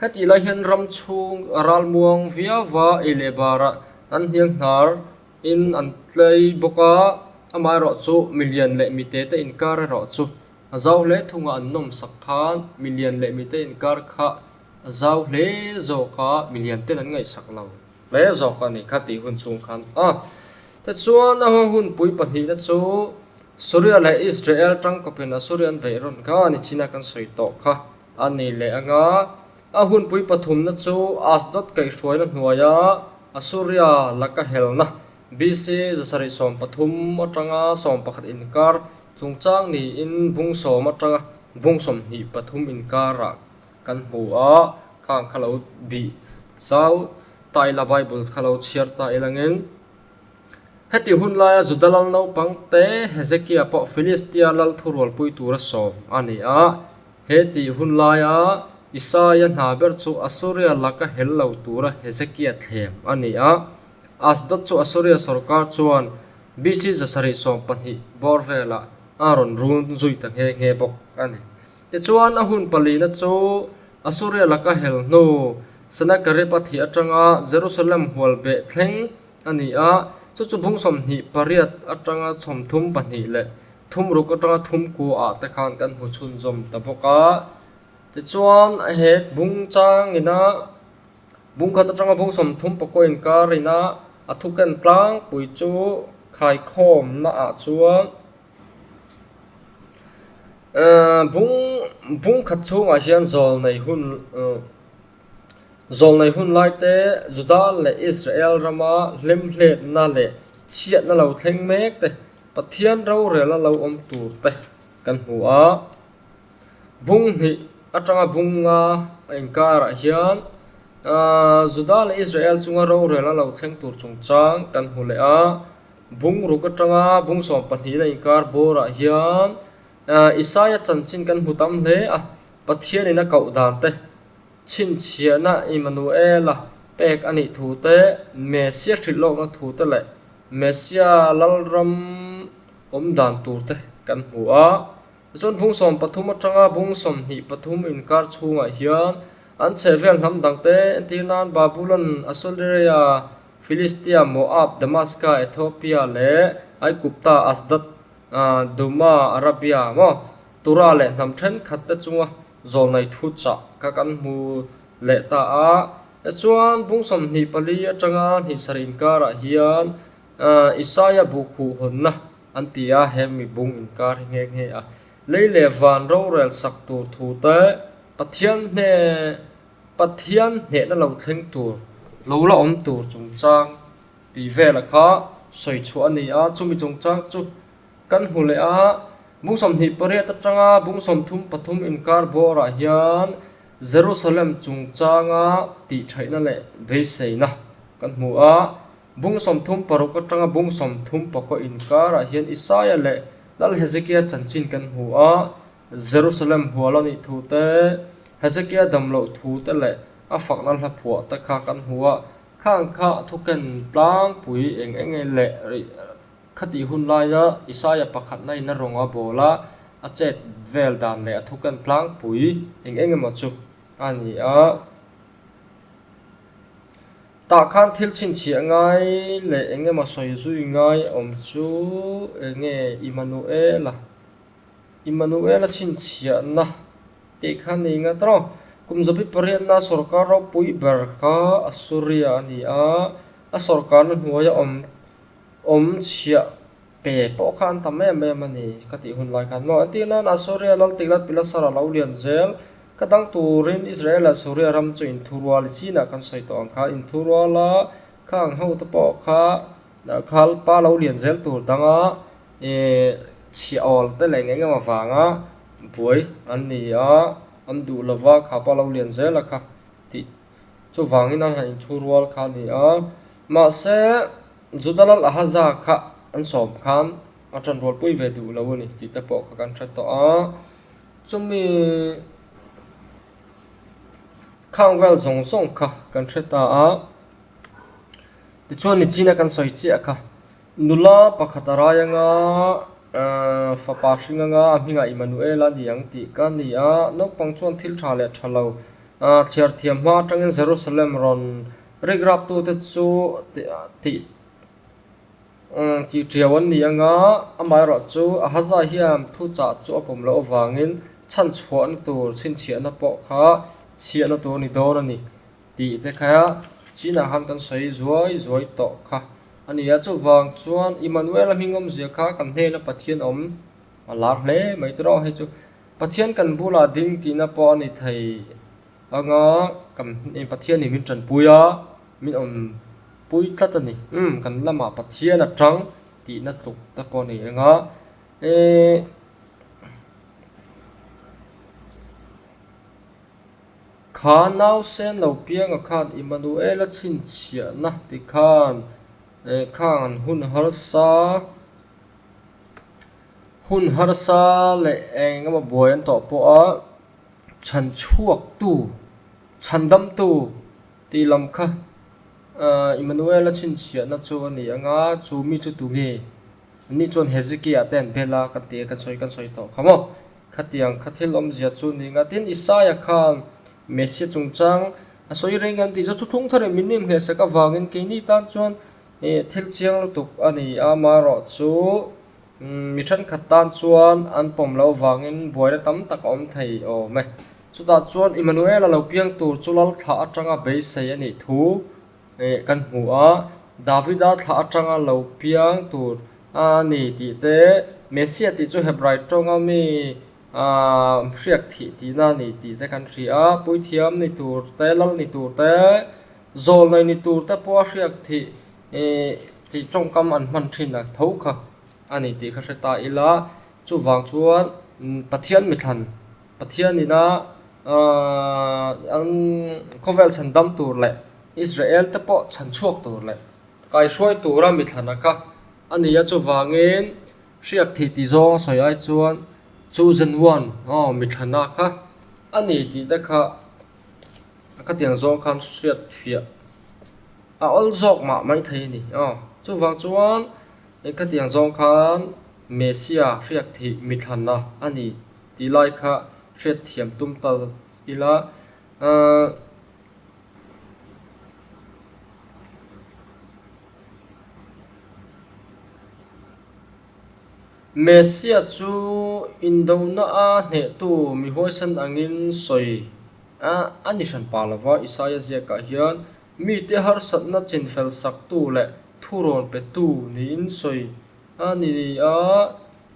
Heti lai hian ram chhung a ral muang viava ei leh bara an hniang hnar in an tlei bawk a, amah erawh chu mi lian leh mi te te inkar erawh chu zau hle thung ah an nawm sak khan mi lian leh mi te inkar kha A zau hle zawk a, milian ten an ngaihsak lo. Hle zawk a ni kha tih hun chhung khan a te chuan a ho hun pui pahnih na chu Suria leh Israel tangkawp in a Surian veih rawn kha ni china kan sawi tawh kha a nih leh ang a. A hun pui pathum na chu Ashdod kaih hruai na hnuai a a Suria laka hel na BC zasarih sawm pathum atang a sawm pakhat in kar chungchang niin bung sawm atang a bung sawmhnih pathum in kar a Kan hmu a, kha ang kha lo bih zau ta ila Bible kha lo chhiar ta ila ngeng. Heti hun laia Juda lal naupangte Hezekia pawh Filistia lal thurualpui tura sawm a ni a. He tih hun laia Isaiah hna ber chu Assuria laka hel lo tura Hezekia thlem a ni a. Ashdod chu Assuria sorkar chuan BC zasarih sawmpahnih bawr velah a rawn run zui ta nghe nghe bawk a ni. Tichuan a hun palihna chu Assuria laka hel hnu Sennacherib a thih atanga Jerusalem hual beh thleng a ni a, chu chu bung sawmhnih pariat atanga chhawm thum pahnih leh thum ruk atanga thum kuaah te khan kan hmu chhunzawm ta bawk a. Tichuan he bung chang ina bung khat atanga bung sawm thum pakaw inkar ina a thuken tlangpui chu khaikhawmnaah chuan, Bung khat chhungah hian zawlnei hun zawlnei hun lai te Juda leh Israel rama hlemhletna leh chhiatna lo thleng mek te, Pathian rorel a lo awm tur te kan hmu a. Bung hnih atanga bung nga a inkarah hian Juda leh Israel chunga rorel a lo thleng tur chungchang kan hmu leh a. Bungruk atanga bungsawm pahnihin a inkar bawrah hian Isaiah chanchin kan hmu tam hle a, Pathianin a koh dante, chhinchhiahna Immanuela pek a nih thu te, Messia hrilh lawkna thu te leh Messia lalram awm dan tur te kan hmu a. Tichuan bungsawm pathum atanga bungsawm hnih pathum inkar chhungah hian an chhehvel hnam dangte entir nan Babylon, Assyria, Filistia, Moab, Damaska, Ethiopia leh Aigupta, Asdod, Duma, Arabia maw tura leh hnam thenkhat te chunga zawlnai thu chah kha kan hmu leh ta a. Tichuan, bungsawmhnih pali atanga hnisar inkarah hian Isaiah buh khuh hawnna an ti a, he mi bung inkar hi nghe nghe a. Lei leh van rorel sak tur thu te Pathian hne Pathian hnehna lo thleng tur, lo la awm tur chungchang tih vela kha sawi chhuah a ni a, chumi chungchang chu kan hmu leh a, Bungsawm hnih pariat atanga Bungsawm thum pathum inkar bawrah hian Jerusalem chungchanga tihtheihna leh beiseina kan hmu a, Bungsawm thum paruk atanga Bungsawm thum pakua inkarah hian Isaiah leh Lal Hezekiah chanchin kan hmu a, Jerusalem hual a nih thu te, Hezekiah damloh thu te leh a fakna hla phuah te kha kan hmu a, khang kha a thuken tlangpui eng eng nge leh rih khatih hun laia Isaiah pakhatna ina rawn a bawl a, a chet vel dan leh a thuken tlangpui eng eng emaw chu a ni a. Tah khan thil chhinchhiah ngai leh eng emaw sawi zui ngai awm chu enge Immanuel a. Immanuela chhinchhiahna tih kha ni nghat rawh. Kum zabi pariatna sawrkar ropui ber kha Assuria a ni a, a sawrkarna hnuaia awm awm chhiah pe pawh kha an tam em em a ni ka tih hun lai khan maw. Entir nana Assuria lal tikna pilasar a lo lian zel, ka dang turin Israel leh Assuria ram chu inthurual i sinah kan sawi tawh ang kha. Inthuruala kha ang ho te pawh kha khalpa lo lian zel tur danga I chhia awl te nen engemaw avanga buai an ni a, an duh lo va kha pawh a lo lian zel a kha ti chuvangin an han inthu rual kha a ni a. Mahse, Judalal Ahaza kha an sawm khan a tan rual pui ve duh lo a ni tih te pawh kha kan hre tawh a. Chumi khang vel zawng zawng kha kan hre ta a. Tichuan Nichina kan sawi chiah kha Nula pakhat a rai anga, Aaa, fapa hring anga a hming a Immanuel a ni ang tih ka ni a. Naupang chuan thil tha leh tha lo, Aaa, chhiar thiam hma atangin Jerusalem rawn rikraptute chu tih a ti, Umm, tih ṭhiau an ni anga, amaherawh chu Ahaziah hian thu chah chu a pawm loh avangin chhan chhuahna tur chhinchhiahna pawh kha chhiahna tur ni dawn a ni. Tih te kha China han kan sawi zuai zuai tawh kha a ni a, chuvang chuan Immanuela hmingawmzia kha kan hnena Pathian awm a lak hle mai tur aw hei chu Pathian kan bulah ding tihna pawh a ni thei anga kan Pathianin min tanpui a, min awm pui tlat a ni, umm kan lamah Pathian a tang tihna tluk te pawh a nei anga ehh. Kha nau sen lo pianga khan Immanuela chhinchhiahna ti khan eh khan hun harsa hun harsa leh eng emaw buai an tawh pawh a chhan chhuaktu chhan damtu tih lam kha Immanuela chhinchhiahna chu a ni ang a chu mi chu tunge? Ni chuan Hezekiah te an bel a, kan ti e, kan sawi kan sawi tawh kha maw? Khatiang kha thil awmzia chu ni nga. Tin, Isaiah khan Messia chungchang a sawi reng em tih chu thuthlung thar in min nem hle sak avangin keini tan chuan thil chiang lutuk a ni a, amaherawh chu mi thenkhat tan chuan an pawm lo vangin buaina tam tak a awm thei awm e. Chutah chuan Immanuela lo biang tur chu lal thla atanga beisei a nih thu kan hmu a Davida thla atanga lo piang tur a ni tih te Messia tih chu Hebraea tawnga mi aaa hriat theih tihna a ni tih te kan hria a puithiam ni tur te lal ni tur te zawl nei ni tur te pawh a hriat theih ihh tih tawngkam an hman thin ang tho kha a ni tih ka hre ta ila chuvang chuan Pathian mi thlan-- Pathian ina an khawvel chhan dam tur leh Israel te pawh chhan chhuak tur leh kaihruai tura mi thlan a ka a ni a, chuvangin hriat theih tih zawng a sawi ai chuan chosen one aw mi thlan a ka a ni tih te kha a ka tiang zawng khan hriat fiah a awlh zawk mah mai thei a ni aw chuvang chuan ka tiang zawng khan Messia hriat theih mi thlan a a ni. tih lai kha hriatthiam tum ta ila. Messia chu indohna a hnehtu mi huaisan angin sawi a ni hran pah lova Isaiah ziakah hian mite harsatna chinfel saktu leh thurawn petu niin sawi a ni a.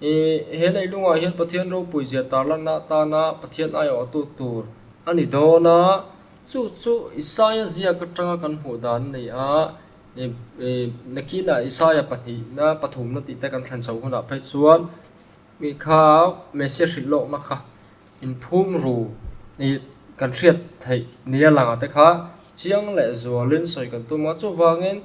I, he leilungah hian Pathian ropui zia tarlanna atana Pathian aiawhtu tur a ni dawn a, chu chu Isaiah ziak atanga kan hmuh dan nei a, i, i, nakinah Isaiah pahnihna, pathumna tihte kan thlen chho hunah phei chuan mi kha Messiah hrilh lawkna kha inphum ru i kan hriat theih ni a lang a te kha chiang leh zualin sawi kan tum a, chuvangin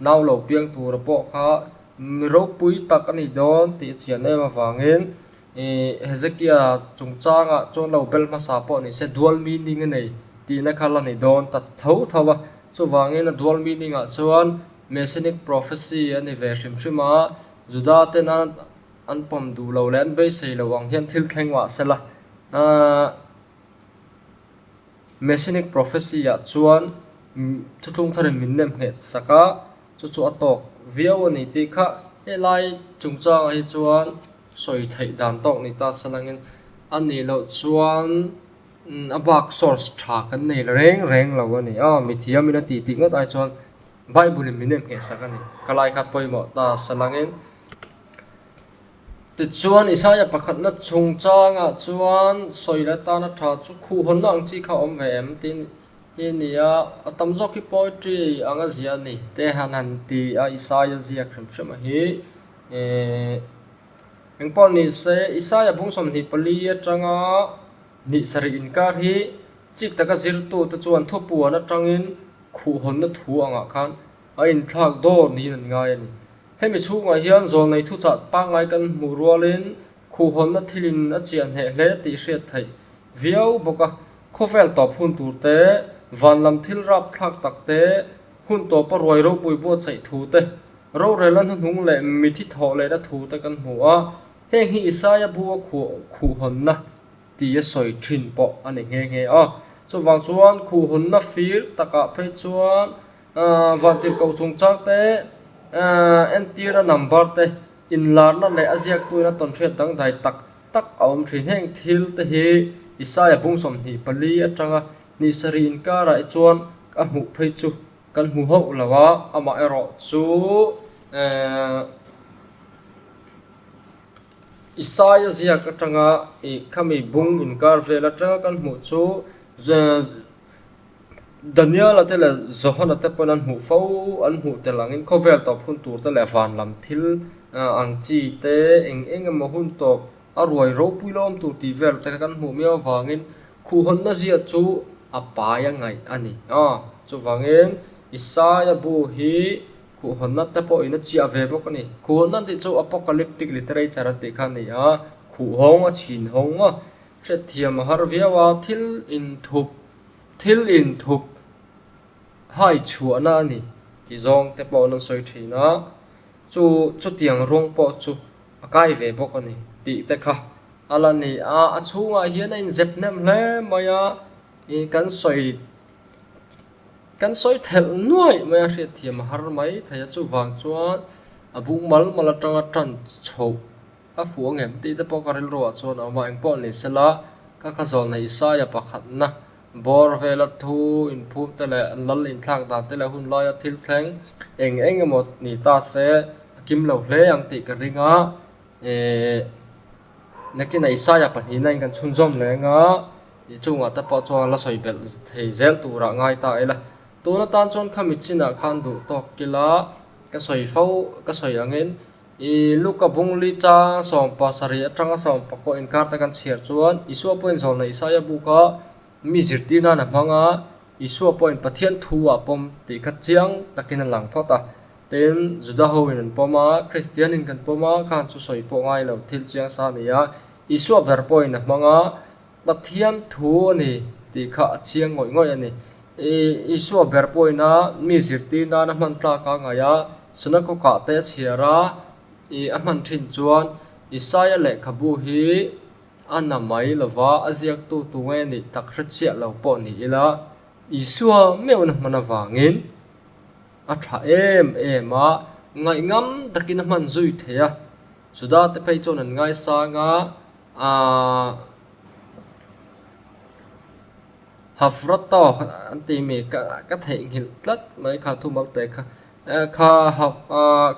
Nau lo piang tura pawh kha mi ropui tak a nih dawn tih a chian em avangin Hezekia chungchanga chuan lo bel hmasa pawh ni se dual meaning a nei tihna kha la ni dawn ta tho tho a. Chuvangin a dual meaning ah chuan Messianic Prophecy a ni ve hrim hrim a, Juda tena an pawm duh lo leh an beisei lo ang hian thil thleng mah sela. Messianic Prophecy-ah chuan thutlung thar in min nem nghet sak a, chu chu a tawk viau a ni tih kha. Helai chungchangah hi chuan sawi theih dan tawk ni ta salangin a nih loh chuan a bak source tha kan nei reng reng lo a ni a, mithiam in a titih ngawt ai chuan Bible in min nem nghet sak a ni. Ka laikhat pawimawh ta salangin. Tichuan, Isaiah pakhatna chungchangah chuan sawi leh atana tha chu khuh hawnna ang chi kha a awm ve em? tiin hi a ni a, a tam zawk hi poetry ang a zia a ni te han han ti a Isaiah ziak hrem hrema hi. Eehh eng pawh ni se, Isaiah bung sawmhnih pali atanga hnih sarih inkar hi chik taka zirtu te chuan thupuan atangin khuh hawnna thu angah khan a inthlak dawr niin an ngai a ni. Hemi chhungah hian zawlnei thuchah pangngai kan hmuh rualin khuhhawnna thilin a chiah hneh hle tih hriat theih viau bawk a. Khawvel tawp hun tur te, vanlam thil rap thlak tak te, hun tawpa ruai ropui buatsaih thu te, rorela hnuhnung leh mithi thawh lehna thu te kan hmu a, heng hi Isaiah bu a khuh khuhhawnna ti a sawi thin pawh a ni nghe nghe a. Chuvang chuan khuhhawnna fir takah phei chuan Vangtirhkoh chung chang te entirna number te inlarna leh a ziaktuina tawnhriat dangdai tak tak a awm thin heng thil te hi Isaiah bung sawmhnih pali atanga hnih sarih inkarah hi chuan a hmuh phei chu kan hmu hauh lo a amah erawh chu Isaiah ziak atanga khami bung inkar vel atanga kan hmuh chu. Daniela te leh Johana te pawhin an hmuh fo, an hmuh tel angin khawvel tawp hun tur te leh van lam thil ang chi te, eng eng emaw hun tawp a ruai ropui lawm tur tih vel te kha kan hmuh miau avangin khuh hawnna zia chu a pai a ngaih a ni. Aw, chuvangin Isaiah bu hi khuh hawnna te pawhin a chiah ve bawk a ni. Khuh hawnna tih chu Apocalyptic literature an tih kha a ni a, khuh hawng a chhin hawng maw? Hrethiam a harh viau a, thil inthup, thil inthup hai chhuahna a ni tih zawng te pawh nan sawi thin a, chu chutiang rawng pawh chu a kai ve bawk a ni tih te kha a la ni a, a chhungah hian a inzep hnem hle mai a, ih kan sawi kan sawi thelh nuaih mai a, hrethiam a har mai thei a, chuvang chuan a bung mal mal atanga tan chhoh. A fuh angem tih te pawh ka rilru ah chuan a awm a, eng pawh ni sela ka kha zawh neih Isaiah pakhatna bawr vela thu inphum te leh lal inthlak dan te leh hun laia thil thleng eng eng emaw ni ta se a kim lo hle ang tih ka ring a, eh nakina Isaiah pahnihna in kan chhunzawm leng a, i chungah te pawh chuan la sawi belh thei zel turah ngai ta ila, tun atan chuan kha mitchinah khan duh tawk ila ka sawi fo ka sawi angin I Luka bungli cha sawmpa sarih atanga sawmpa pawh inkarte kan chhiar chuan Isua pawhin zawlna Isaiah buka mi zirtir nana hmanga Isua pawhin Pathian thu a pawm tih kha chiang takin a lang phawt a. Tin, Juda hoin an pawm a, Kristianin kan pawm a khan chu sawi pawh ngai lo thil chiang sa a ni a, Isua ber pawhin a hmanga, Pathian thu a ni tih kha a chiang ngawih ngawih a ni. Isua ber pawina mi zirtir nana hman tlak a ngaih a, Sunakokah te a chhiar a, a hman thin chuan Isaiah lehkhabu hi a na mai lova a ziaktu tu nge nih tak hrechiah lo pawh ni ila, Isua meuhna hman avangin a tha em em a, ngaih ngam takin a hman zui thei a. Judate phei chuan an ngaisang a, Aaa Hafra tawk an tih mi ka ka theih nghilh tlat mai kha thu mal teh kha kha ha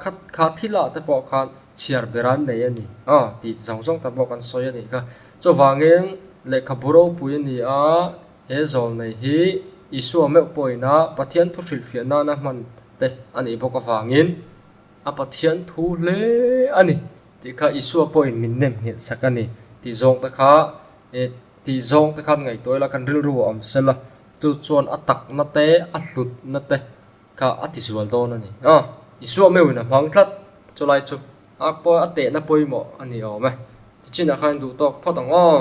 kha kha thila te pawh khan chhiar ber an nei a ni aw tih chi zawng zawng te pawh kan sawi a nih kha chuvangin lehkhabu ropui a ni a he zawng nei hi Isua meuh pawhin a Pathian thuhrilh fiah nana hman te a nih bawk avangin. A Pathian thu hle a ni tih kha Isua pawhin min nem nghilh sak a ni tih zawng te kha tih zawng te khan ngaihtuah ila kan rilru a awm sela, chu chuan a takna te a hlutna te kha a tizual dawn a ni. A Isua meuhin a hmang tlat chulai chu a tehna pawimawh a ni awm e, chichinah khan duhtawk phawt ang aw.